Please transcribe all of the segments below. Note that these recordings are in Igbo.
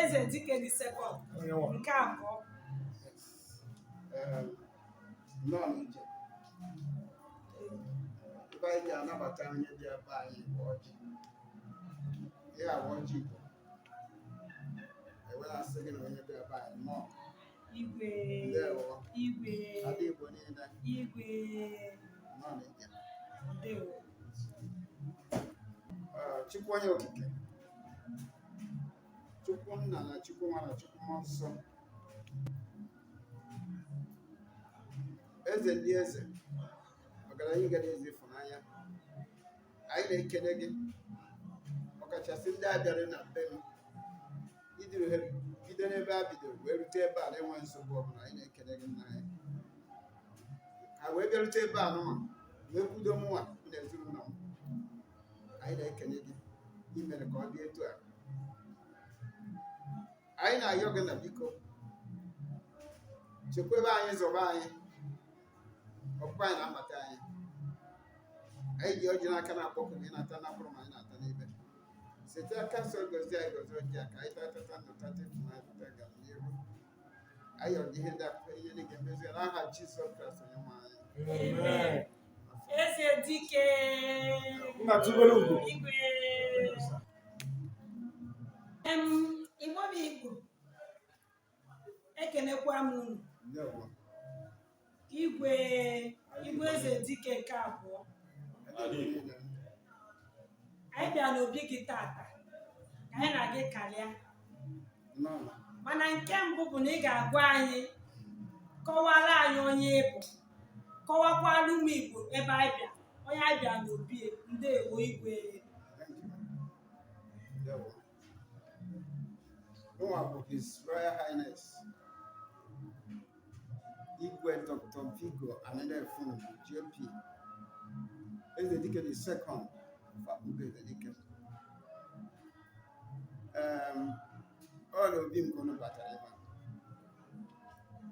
eze dike the second nke abụọ nnọọ n'ije ihe anyị ji anabata onye bịa be anyị bụ ọjị ihe a bụ ọjị igbo e were asị gị na onye bịa be anyị nnọọ Igwe. Ndewo. Igwe. Ada Igbo niile. Igwe. Nnọọ n'ije. Ndewo. Ah, Chukwu onye okike. Chukwu nna na Chukwu nwa na Chukwu mmụọ nsọ. Eze ndị eze. Ọgaranya ngada, eze ịfụnanya. anyị na-ekele gị ọkachasị ndị a bịara na be m i duru ha bido n'ebe ha bidoro wee rute ebe a na-enweghị nsogbu ọbụla anyị na-ekele gị nna anyị ha wee bịarute ebe a nụnwa wee kwudo mụnwa m na ezinụlọ m anyị na-ekele gị i mere ka ọ dị etu a anyị na-ayọ gị na biko chekwebe anyị zọba anyị ọkpụkpọ anyị na-amata anyị anyị ji ọjị n'aka na-akpọku gị ị na-ata na mkpụrụ ma anyị na-ata n'ibe site n'aka nsọ gozie anyị gozie ọjị a ka anyị taa tata ndụ tata ịfụnanya tata ọganiru anyị yọọ gị ihe ndị a n'okwukwe na ị ga-emezu ya n'aha Jizọs Kraịst onye nwe anyị Amen. Eze dike. Nna tubelu ugo. Igwe. Igbo bụ Igbo ekenekwa m unu igwe igwe eze dike nke abụọ anyị bịa n'obi gị tata ka anyị na gị karịa mana nke mbụ bụ na ị ga-agwa anyị kọwara anyị onye ị bụ kọwakwara ụmụ Igbo ebe anyị bịa onye anyị bịa n'obi ya ndewo igwe Mụnwa bụ His Royal Highness Igwe Dr. Vigo Anelefun JP Eze Dike the second of Akpugo Eze Dike um, ọ n'obi m ka unu batara ebe a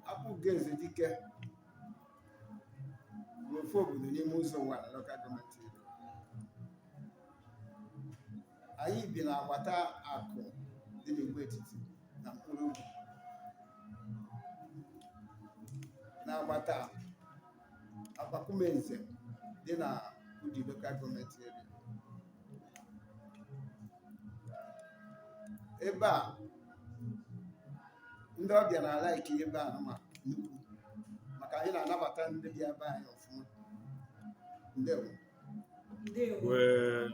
Akpugo Ezedike bụ ofu obodo n'ime Uzo-Uwani Local Government Enugu. anyị bi n'agbata Aku dị n'Igbo Etiti na Nkpologu n'agbata akụ Akpakwume Nze dị na Udi Local Government Area. Ebe a ndị ọbịa na-alike ebe a ma nnukwu maka anyị na-anabata ndị bịa be anyị ọfụma. Ndewo. Ndewo. Wee.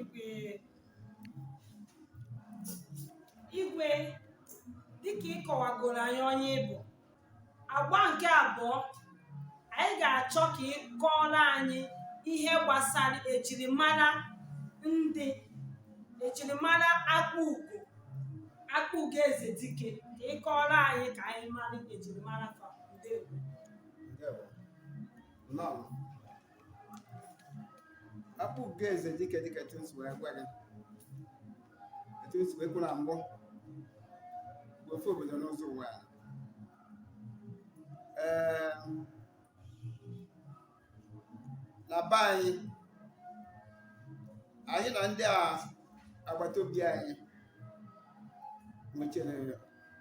Igwe Igwe dịka ị kọwagoro anyị onye ị bụ agba nke abụọ anyị ga-achọ ka ị kọọrọ anyị ihe gbasara ejirimara ndị ejirimara Akpugo Akpugo Ezedike ka ị kọọrọ anyị ka anyị mara ejirimara fa ndewo Ndewo. Nnọọ. Akpugo Ezedike dịka etu m si wee gwa gị etu m si wee kwuo na mbụ bụ ofu obodo n'Uzo-Uwani. Ee, na be anyị anyị na ndị agbata obi anyị nwechere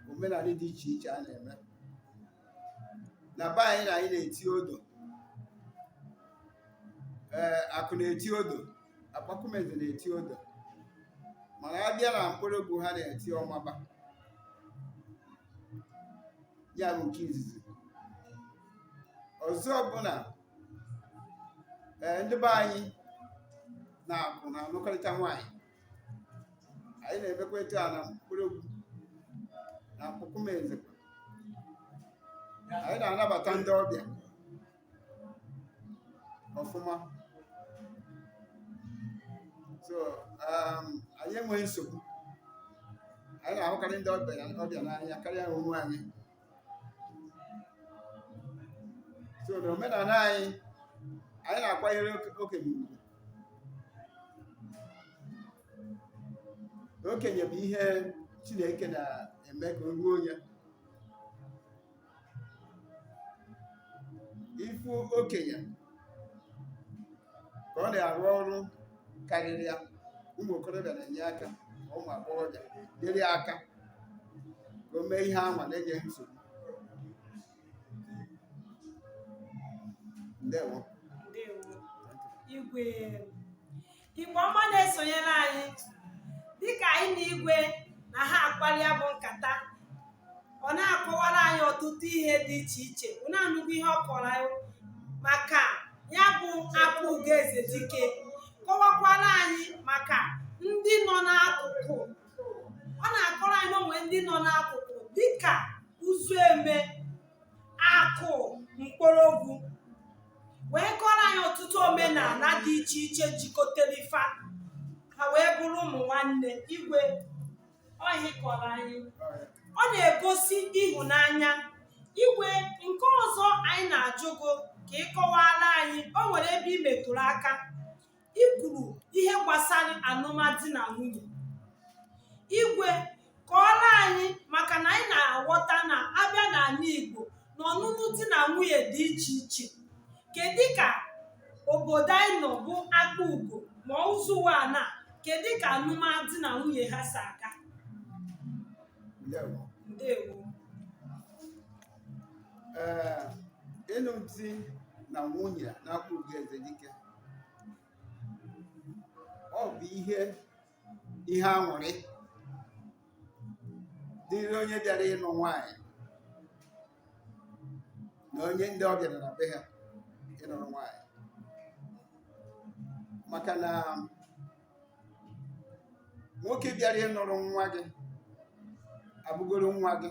omenala dị iche iche a na-eme na be anyị na anyị na-eti odo ee Aku na-eti odo Akpakwume Nze na-eti odo mana a bịa na Nkpologu ha na-eti ọmaba ya bụ nke izizi ọzọ bụ na ee ndị be anyị na Aku na-anụkọrịta nwaanyị anyị na-emekwa etu a na Nkpologu na Akpakwume Nze anyị na-anabata ndị ọbịa ọfụma so um, anyị enweghị nsogbu anyị na-ahụkarị ndị ọbịa n'anya karịa onwe anyị so na omenala anyị anyị na-akwanyere oke- okenye ugwu okenye bụ ihe chineke na-eme ka o ruo onye ị fụ okenye ka ọ na-arụ ọrụ karịrị ya ụmụ okorobịa na-enye aka ma ụmụ agbọghọbịa nyere ya aka ka o mee ihe anwa na-enye nsogbu ndewo igwe Igbo ọma na-esonyere anyị dịka anyị na igwe na ha akpalị ya bụ nkata ọ na-akọwara anyị ọtụtụ ihe dị iche iche unu anụgo ihe ọ kọrọ anyị maka ya bụ Akpugo Ezedike kọwakwara anyị maka ndị nọ n'akụkụ ọ na-akọrọ anyị na o nwere ndị nọ n'akụkụ dịka uzueme akụ mkporogwu wee kọrọ anyị ọtụtụ omenala dị iche iche jikọtara fa ha wee bụrụ ụmụ nwanne igwe ọhụ ị kọrọ anyị ọ na-egosi ịhụnanya igwe nke ọzọ anyị na-ajụ gị ka ị kọwara anyị o nwere ebe ị metụrụ aka i kwuru ihe gbasara alụmdi na nwunye igwe kọọrọ anyị maka na anyị na-aghọta na a bịa n'ala igbo na ọnụnụ di na nwunye dị iche iche kedu ka obodo anyị nọ bụ akpugo ma ụzọ ụwanị kedu ka alụmdi na nwunye ha si aga ndewo ndewo ee ịnụ di na nwunye na akpugo eze dike ọ bụ ihe ihe aṅụrị dịrị onye bịara ịnụ nwaanyị na onye ndị ọ bịara na be ha ịnụrụ nwaanyị maka na nwoke bịara ịnụrụ nwa gị abụgoro nwa gị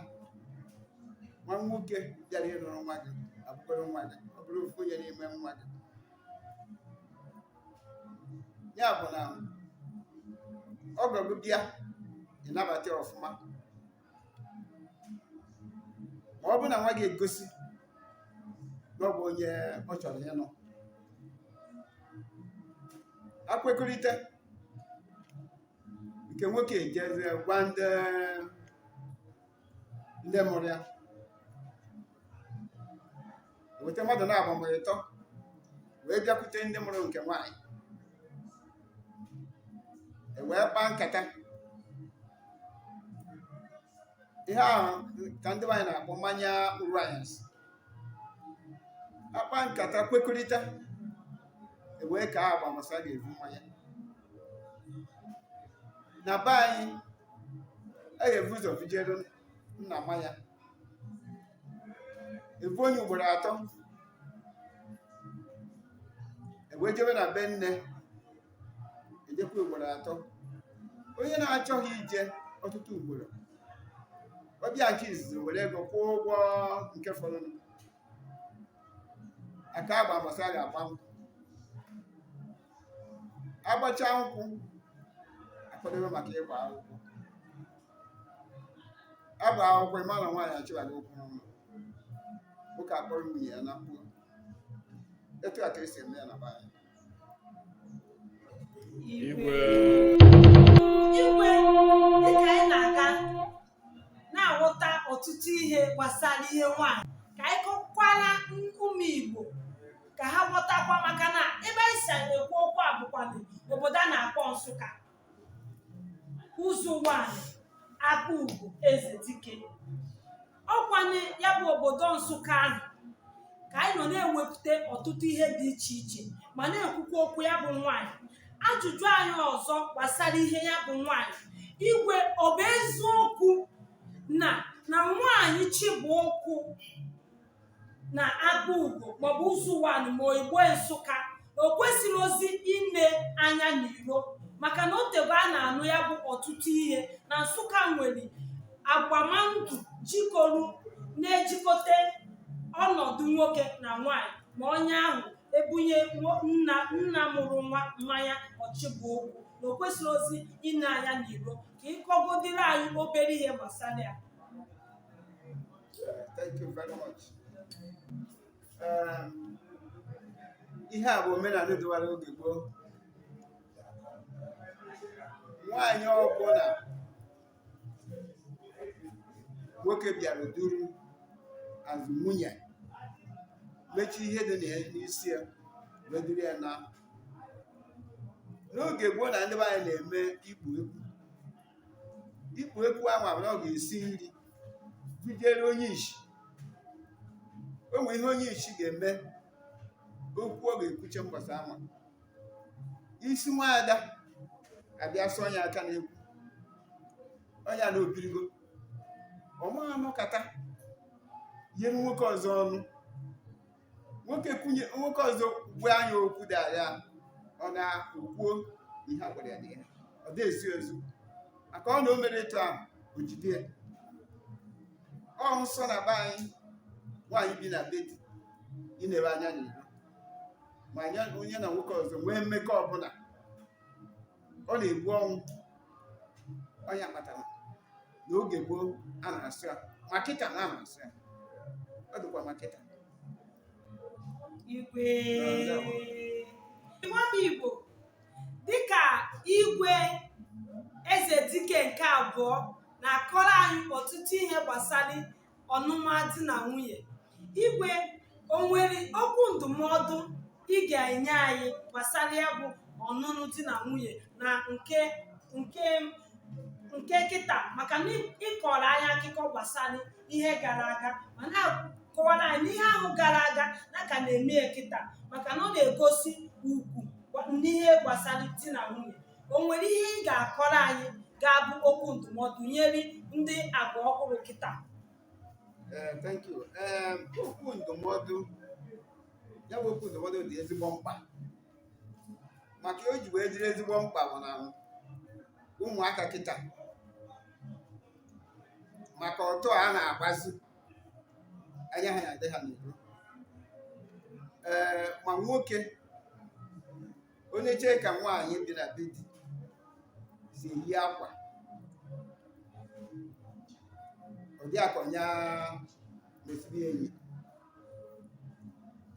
nwa nwoke bịara ịnụrụ nwa gị abụgoro nwa gị ọ bụrụ ofu onye n'ime nwa gị ya bụ na ọgọ gị bịa ị nabata ya ọfụma ma ọ bụ na nwa gị egosi na ọ bụ onye ọ chọrọ ịnụ e kwekọrịta nke nwoke ejezie gwa ndị ndị mụrụ ya weta mmadụ naabọ ma ọ bụ ịtọ wee bịakwute ndị mụrụ nke nwaanyị e wee kpaa nkata ihe ahụ ka ndị nwaanyị na-akpọ mmanya uru anyasị a kpaa nkata kwekọrịta e wee kaa agba mbọsị a ga-ebu mmanya na be anyị a ga-ebu ụzọ bujere nna mmanya e buo nye ugboro atọ e wee jebe na be nne e jekwa ugboro atọ onye na-achọghị ije ọtụtụ ugboro ọ bịa nke izizi were ego kwụọ ụgwọ nke fọdụrụ a kaa agba mbọsị a ga-agba m agbacha nkwụ akwadobe maka ịgba akwụkwọ agba akwụkwọ ịma na nwaanyị achịwago ụkwụ n'ụlọ nwoke akpọrọ nwunye ya na mkpụrụ etu a ka esi eme ya na be anyị Igwe. Igwe, dịka anyị na-aga na-aghọta ọtụtụ ihe gbasara ihe nwaanyị ka anyị kọkwara ụmụ Igbo ka ha ghọtakwa maka na ebe anyị si ekwu okwu a bụkwanụ obodo a na-akpọ Nsụka Ụzọ Ụwanị Akpugo Ezedike ọ kwa na ya bụ obodo Nsụka ahụ ka anyị nọ na-ewepụta ọtụtụ ihe dị iche iche ma na-ekwukwa okwu ya bụ nwaanyị ajụjụ anyị ọzọ gbasara ihe ya bụ nwaanyị igwe ọ bụ eziokwu na na nwaanyị chịba ụkwụ na Akpugo maọbụ Ụzọ Ụwanị ma Igbo Nsụka na o kwesirozi ine anya n'iro maka na o teego a na-anụ ya bụ ọtụtụ ihe na nsụka nwere agbamandụ jikọrọ na-ejikọta ọnọdụ nwoke na nwanyị ma onye ahụ ebunye nwo- nna nna mụrụ nwa mmanya ọ chịba ụkwụ na o kwesirozi ine anya n'iro ka ị kọgodịrị anyị obere ihe gbasara ya Yeah, thank you very much. Ehm, ihe a bụ omenala dịwara oge gboo nwaanyị ọbụla nwoke bịara duru azụ nwunye mechie ihe dị na ya n'isi ya wee duru ya naa n'oge gboo na ndị be anyị na-eme ikpu ekwu ikpu ekwu ahụ abụrụ ọ ga-esi nri bujere onye ishi o nwere ihe onye ishi ga-eme okwu ọ ga-ekwuche mgbasa ama isi nwaada abịa sụọ ya aka n'ekwu ọnya na o birigo ọ ma anọkata nyere nwoke ọzọ ọnụ nwoke kwunye nwoke ọzọ gwa nya okwu dị agha ọ naa o kwuo ihe a gwara ya di ya ọ dị ezi ezi maka ọ na o merọ etu ahụ o jide ya ọ nsọ na be anyị nwaanyị bi na be di inere anya n'iro ma ọnya na nwoke ọzọ nwee mmekọ ọbụla ọ na-egbu ọnwụ ọnya kpatara na oge gboo a na-asọ ya ma kịta na a na-asọ ya ọ dịkwa ma kịta igwe nwa m igbo dịka igwe Ezedike nke abụọ na-akọrọ anyị ọtụtụ ihe gbasara ọnụma di na nwunye igwe o nwere okwu ndụmọdụ ị ga-enye anyị gbasara ya bụ ọnụnụ di na nwunye na nke nke nke kịta maka na ị- ị kọrọ anyị akụkọ gbasara ihe gara aga ma na-akọwara anyị na ihe ahụ gara aga na a ka na-eme ya kịta maka na ọ na-egosi ugwu gwa- n'ihe gbasara di na nwunye o nwere ihe ị ga-akọrọ anyị ga-abụ okwu ndụmọdụ nyere ndị agba ọhụrụ kịta Eh, thank you. Eh, okwu ndụmọdụ ya bụ okwu ndụmọdụ dị ezigbo mkpa maka o ji wee dịrị ezigbo mkpa bụ na ụmụaka kịta maka ọtọ a na-agbazi anya ha na-adị ha n'iro ee ma nwoke onye chee ka nwaanyị bi na be di si eyi akwa ụdị akwa ya mesiri enyi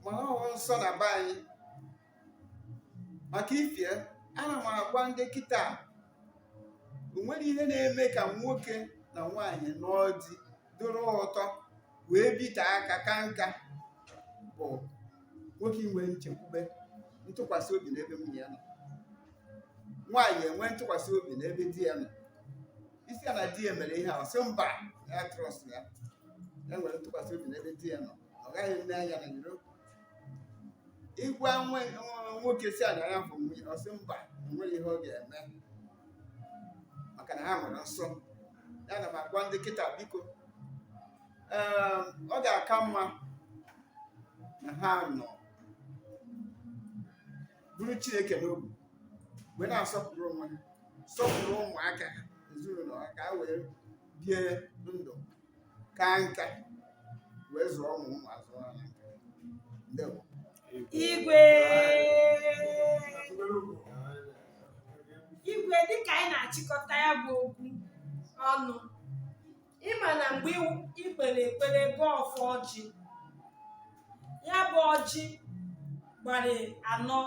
ma ọ bụ nsọ na be anyị maka ife ana m agwa ndị kịta o nwere ihe na-eme ka nwoke na nwaanyị nọdụ dịrị ụtọ wee bite aka kaa nka bụ nwoke inwe nchekwube ntụkwasị obi n'ebe nwunye ya nọ nwaanyị enwe ntụkwasị obi n'ebe di ya nọ ị sị ya na di ya mere ihe a ọ sị mba na ya trust ya ya nwere ntụkwasị obi n'ebe di ya nọ ọ gaghị ene anya n'iro ị gwa nwe nwa- nwoke sị ya na ya bụ nwunye ọ sị mba o nwerọ ihe ọ ga-eme maka na ha nwere nsọ ana m agwa ndị kịta biko ee ọ ga-aka mma na ha nọ buru chineke n'obi wee na-asọpụrụ onwe ha sọpụrụ ụmụaka ha ezinụlọ ha ka ha wee bie ndụ kaa nka wee zụọ ụmụ ụmụazị ha na nka ndewo igwe igwe dịka anyị na-achịkọta ya bụ okwu ọnụ ị ma na mgbe i kpere ekpere gọọ ọfọ ọjị ya bụ ọjị gbara anọ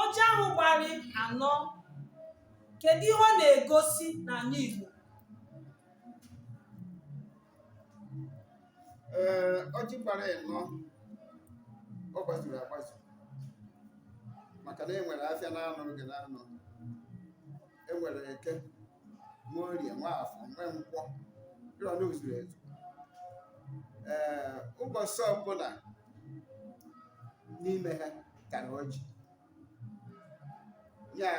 ọjị ahụ gbara anọ kedu ihe ọ na-egosi n'ala Igbo ee ọjị gbara ịnọ ọ gbazuru agbazu maka na e nwere afịa naanọ oge naanọ e nwere eke nwee orie nwee afọ nwee nkwọ ịrọ na o zuru ezu ee ụbọchị ọbụla n'ime ha tara ọjị ya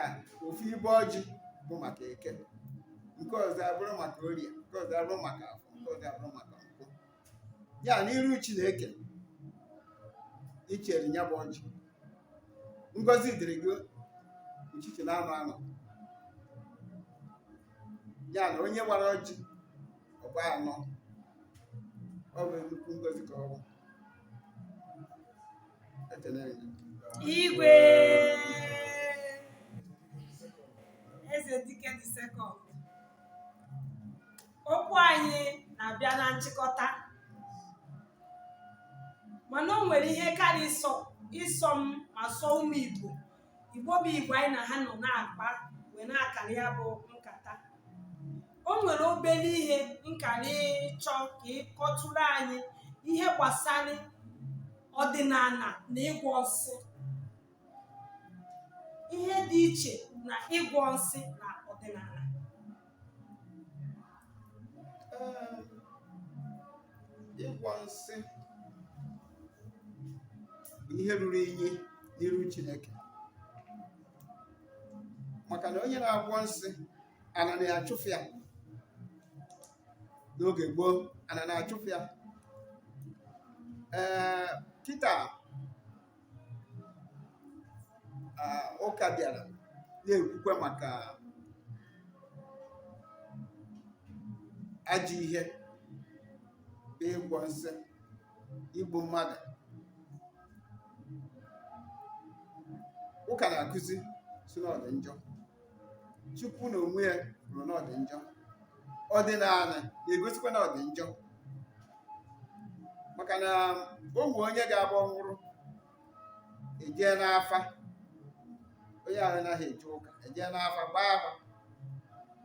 ofu ibe ọjị bụ maka eke nke ọzọ abụrụ maka orie nke ọzọ abụrụ maka afọ nke ọzọ abụrụ maka nkwọ ya n'iru chineke ichere ya bụ ọjị ngozi dịrị gị uchichi na anọ anọ ya na onye wara ọjị ọ gbaa anọ ọ bụ nnukwu ngozi ka ọ bụ igwe eze dike the second okwu anyị na-abịa na nchịkọta mana o nwere ihe kara ịsọ ịsọ m ma sọ ụmụ igbo igbo bụ igbo anyị na ha nọ na-akpa wee na-akara ya bụ nkata o nwere obere ihe m kara ịchọ ka ị kọtụrụ anyị ihe gbasara ọdịnana na ịgwọ nsị ihe dị iche na ịgwọ nsị na ọdịnana ịgwọ nsị bụ ihe ruru inyi n'iru Chineke maka na onye na-agwọ nsị ana na-achụfụ ya n'oge gboo ana na-achụfụ ya ee kịta ụka bịara na-ekwukwe maka ajọ ihe bụ ịgwọ nsị igbu mmadụ ụka na-akụzi sị na ọ dị njọ chukwu n'onwe ya kwuru na ọ dị njọ ọdịnana na-egosikwa na ọ dị njọ maka na o nwe onye ga-abụ ọ nwụrụ ejee n'afa onye ahụ anaghị eje ụka ejee n'afa gbaa afa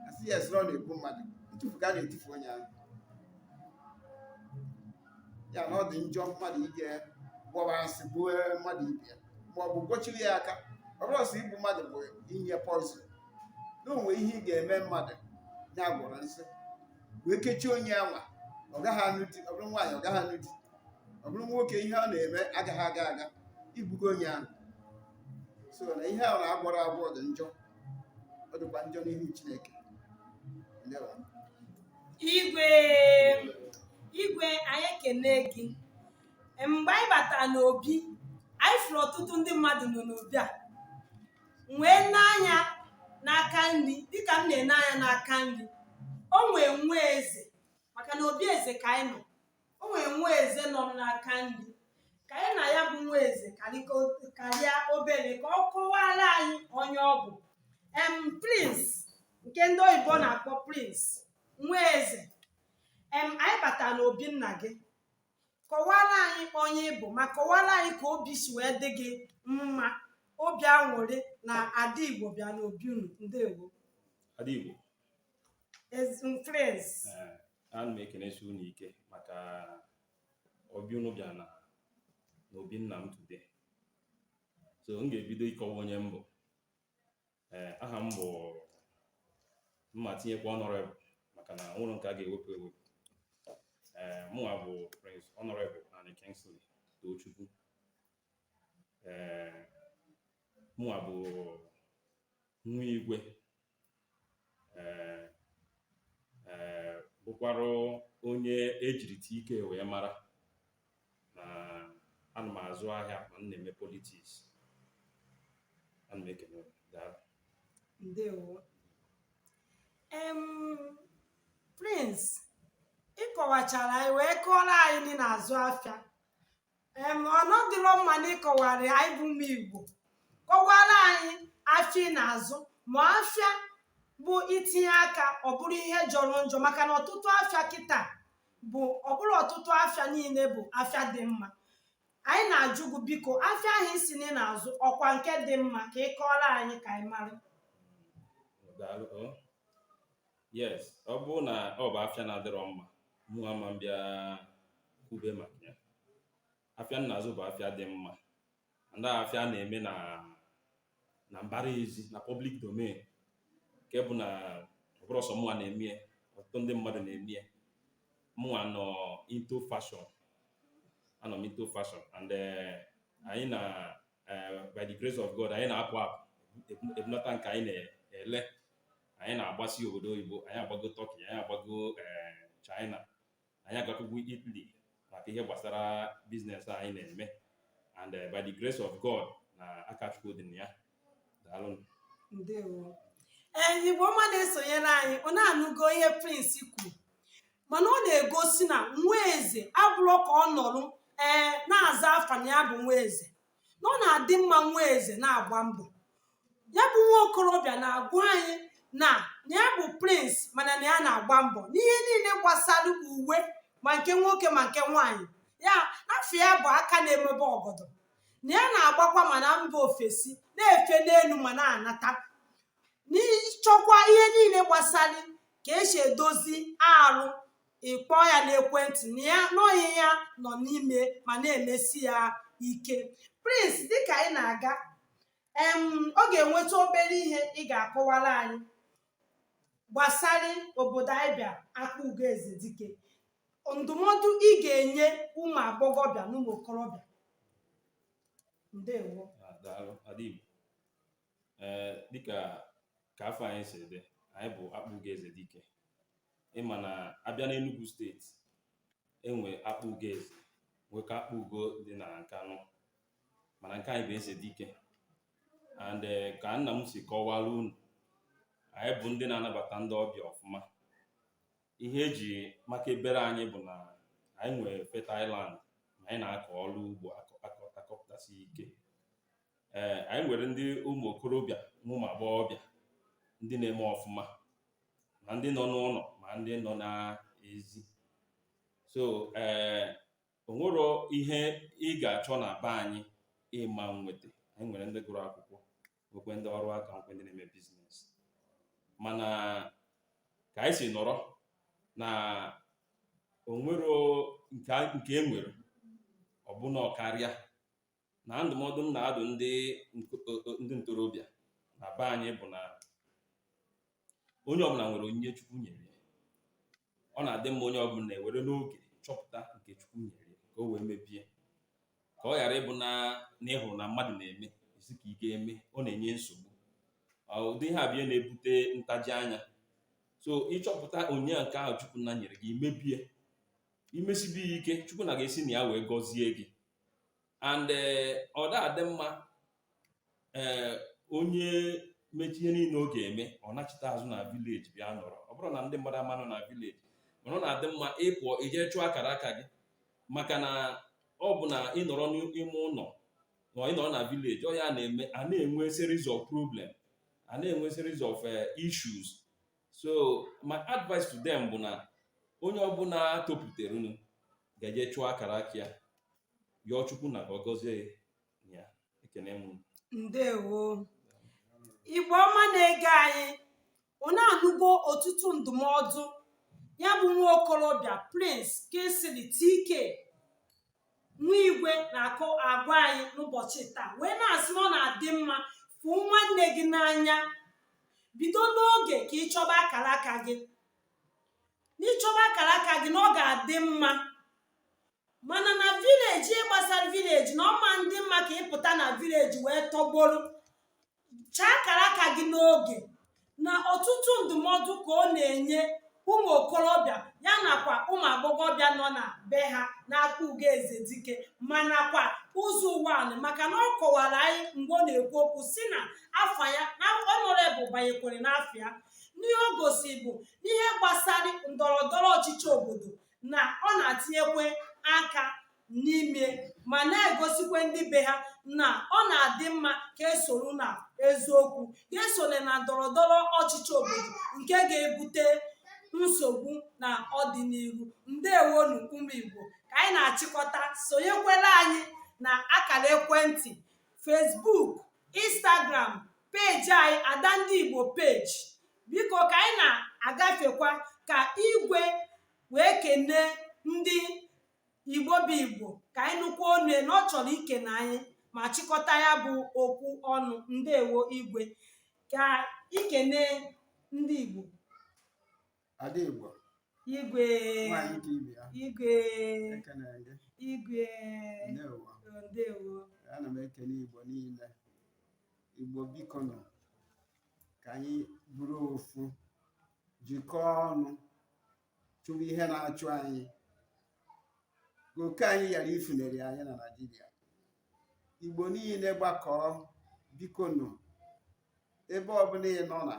asị ya asị na ọ na-egbu mmadụ ntufu ka a na-etufu onye ahụ ya na ọ dị njọ mmadụ ije gwọba nsị gbuo mmadụ ibe ya ma ọ bụ gbochiri ya aka ọ bụrọ sọ igbu mmadụ bụ inye poison na o nwe ihe ị ga-eme mmadụ ya gwọrọ nsị wee kechie onye anwa ọ gaghị anụ di ọ bụrụ nwaanyị ọ gaghị anụ di ọ bụrụ nwoke ihe ọ na-eme agaghị aga aga igbugo onye ahụ so na ihe ahụ a gwọrọ agwọ dị njọ ọ dịkwa njọ n'ihu Chineke igwe igwe anyị ekene gị mgbe anyị batara n'obi anyị fụrụ ọtụtụ ndị mmadụ nọ n'obi a wee nee anya n'aka nri dịka m na-ene anya n'aka nri o nwee nwa eze maka na obi eze ka anyị nọ o nwee nwa eze nọ m n'aka nri ka anyị na ya bụ nwa eze karịa obere ka ọ kọwara anyị onye ọ bụ em prince nke ndị oyibo na-akpọ prince nwa eze em anyị batara n'obi nna gị kọwara anyị onye ị bụ ma kọwara anyị ka obi si wee dị gị mma obi aṅụrị na ada igbo bịa n'obi unu ndewo ada igbo friends ana m ekenesi unu ike maka obi unu bịa na n'obi nna m today so m ga-ebido ịkọwa onye m bụ Ee, aha m bụ m ma tinyekwa Honorable maka na ọ wụrọ nke a ga-ewepụ ewepụ. Ee, mụnwa bụ Prince Honorable Ani Kingsley Tochukwu. Ee, mụnwa bụ nwa igwe. Ee, ee, bụkwarụ onye e jiri ike wee mara na ana m azụ ahịa ma m na-eme politics ana m ekene unu. Daalụ. ndewo em prince ị kọwachara anyị wee kọọrọ anyị na ị na-azụ afịa em ọ na-adị nnọọ mma na ị kọwara anyị bụ ụmụ igbo kọwara anyị afịa ị na-azụ ma afịa bụ i tinye aka ọ bụrụ ihe jọrọ njọ maka na ọtụtụ afịa kịta bụ ọ bụrọ ọtụtụ afịa niile bụ afịa dị mma anyị na-ajụ gị biko afịa ahụ ị sị na ị na-azụ ọ kwa nke dị mma ka ị kọọrọ anyị ka anyị mara Daalụ. Oh. Yes, ọ bụrụ na ọ bụ afịa na-adịrọ mma, mụ ama m bịa kwube maka ya. Afịa m na-azụ bụ afịa dị mma. and afịa a na-eme na na mbara ezi na public domain nke bụ na ọ bụrọ sọ mụnwa na-eme ya ọtụtụ ndị mmadụ na-eme ya mụnwa nọ into fashion anọ m into fashion and eh, anyị na eh, by the grace of God anyị na-apụ apụ ebu- ebunata nke anyị na-ele anyị na-agbasi obodo oyibo anyị agbago Turkey anyị agbago eh, China anyị agakwugo Italy maka ihe gbasara business anyị na-eme and eh, by the grace of God na aka Chukwu dị na ya daalụ ndewo ee igbo ọma na-esonyere anyị unu anụgo ihe prince kwuru mana ọ na-egosi na nwa eze abụrọ ka ọ nọrọ ee na-aza afa na ya bụ nwa eze na ọ na-adị mma nwa eze na-agba mbọ ya bụ nwa okorobịa na-agwa anyị na na ya bụ prince mana na ya na-agba mbọ n'ihe niile gbasara uwe ma nke nwoke ma nke nwaanyị ya afa ya bụ aka na-emebe ọgọdọ na ya na-agbakwa ma na mba ofesi na-efe n'elu ma na-anata n'ịchọkwa ihe niile gbasara ka esi edozi arụ ịkpọ ya n'ekwentị na ya na ọ ihe ya nọ n'ime ma na-emesi ya ike prince dịka anyị na-aga em ọ ga-enweta obere ihe ị ga-akọwara anyị gbasara obodo anyị bịa akpụgo eze dike ndụmọdụ ị ga-enye ụmụ agbọghọbịa na ụmụ okorobịa ndewo daalụ adịm ee dịka ka afa anyị si dị anyị bụ akpụgo eze dike ị ma na abịa n'Enugu steeti enwere akpụgo eze nwekwa akpụgo dị na Nkanụ mana nke anyị bụ eze dike and eh, ka nna m si kọwara unu anyị bụ ndị na-anabata ndị ọbịa ọfụma ihe eji maka ebere anyị bụ na anyị nwere fertile land na anyị na-akọ ọrụ ugbo akọ- akọ- akọpụtasị ike ee anyị nwere ndị ụmụ okorobịa na ụmụ agbọghọbịa ndị na-eme ọfụma ma ndị nọ n'ụlọ ma ndị nọ n'ezi so ee o nwero ihe ị ga-achọ na be anyị ị ma nweta anyị nwere ndị gụrụ akwụkwọ nwekwe ndị ọrụ aka nwekwe ndị na-eme business mana ka anyị si nọrọ na o nwero nke a- nke e nwere ọ bụ na ọ karịa na ndụmọdụ m na-adụ ndị ndị ntorobịa na be anyị bụ na onye ọbụla nwere onyinye Chukwu nyere ya. ọ na-adị mma onye ọbụla ewere n'oge chọpụta nke Chukwu nyere ya ka o wee mebe ya ka ọ ghara ịbụ na na ị hụrụ na mmadụ na-eme ị sị ka ị ga-eme ọ na-enye nsogbu Ọ, ụdị ihe abịa na-ebute ntaji anya so ị chọpụta onyinye nke ahụ Chukwu nna nyere gị i mebe ya i mesibe ya ike Chukwu nna ga-esi na ya wee gọzie gị and eh, ọ da-adị mma ee eh, onye mechaa ihe niile ọ ga-eme ọ nachita azụ na village bịa nọrọ ọ bụrọ na ndị mmadụ ama nọ na village mana ọ na-adị mma ịpụọ ije chụọ akara aka gị maka na ọ bụ na ị nọrọ n'ime ụlọ ma ị nọrọ na village ọ ya na-eme a na-enwe series of problem a na-enwe series of eh, issues so my advice to them bụ na onye ọbụla topụtaranụ ga-eje chụọ akara aka ya yọọ chukwu nna ka ọ gọzie ya ekene m unu. ndewo igbo ọma na-ege anyị unu anụgo ọtụtụ ndụmọdụ ya bụ nwa okorobịa prince kingsley dike nwa igwe na-akọ agwa anyị n'ụbọchị taa wee na-asị na ọ na-adị mma fụ nwanne gị n'anya bido n'oge ka ị chọba akara aka gị na ị chọba akara aka gị na ọ ga-adị mma mana na vileji ihe gbasara vileji na ọ ma adị mma ka ị pụta na vileji wee tọgbọrọ chọọ akara aka gị n'oge na ọtụtụ ndụmọdụ ka ọ na-enye ụmụ okorobịa ya nakwa ụmụ agbọghọbịa nọ na be ha n'Akpugo Ezedike ma nakwa Ụzọ Ụwanị maka na ọ kọwara anyị mgbe ọ na-ekwu okwu sị na afa ya na ọnọrebụ banyekwere n'afa ya na ihe o gosi bụ na ihe gbasara ndọrọ ndọrọ ọchịchị obodo na ọ na-atinyekwe aka n'ime ma na-egosikwa ndị be ha na ọ na-adị mma ka e soro na eziokwu ka esole na ndọrọ ndọrọ ọchịchị obodo nke ga-ebute nsogbu na ọdịnihu ndewonụ ụmụ igbo ka anyị na-achịkọta sonyekwere anyị na akara ekwentị facebook instagram peji anyị ada ndị igbo peji biko ka anyị na-agafekwa ka igwe wee kenee ndị igbo bụ igbo ka anyị nụkwa onu ya na ọ chọrọ ikene anyị ma chịkọta ya bụ okwu ọnụ ndewo igwe ka i kenee ndị igbo ada igbo igwe nwaanyị dị ibe ya igwe ekene gị igwe ndewo ndewo ana m ekele igbo niile igbo biko nụ ka anyị bụrụ ofu jikọọ ọnụ chụwa ihe na-achụ anyị ka oke anyị ghara ifuneri anyị na Naịjirịa Igbo niile gbakọọ biko nụ ebe ọbụla ị nọ na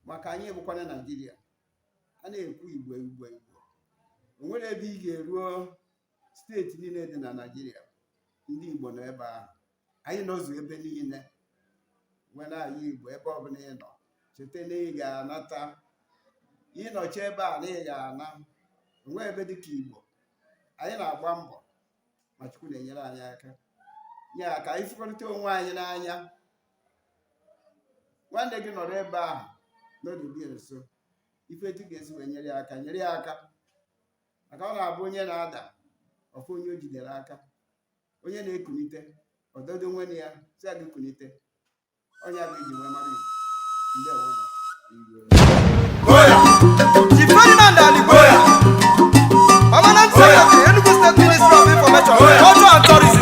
maka anyị bụkwana Naịjirịa a na-ekwu Igbo Igbo Igbo o nwere ebe ị ga-eruo steeti niile dị na naijiria ndị igbo nọ ebe ahụ anyị nọzu ebe niile nwanne anyị igbo ebe ọbụla ị nọ cheta na ị ga-anata ị nọchaa ebe a na ị ga-ana o nweghị ebe dị ka igbo anyị na-agba mbọ ma chukwu na-enyere anyị aka ya ka anyị fụkọrịta onwe anyị n'anya nwanne gị nọrọ ebe ahụ n'oge dị nso ị fụ etu ị ga-esi wee nyere ya aka nyere ya aka maka ọ na-abụ onye na-ada ọfụ onye o jidere aka onye na-ekunite ọdọdo nwene ya si ya gị kunite onye a ga-eji wee mara igbo ndewo na Chief Ferdinand Aligbo, Permanent Secretary, Enugu State Ministry of Information, Culture and Tourism.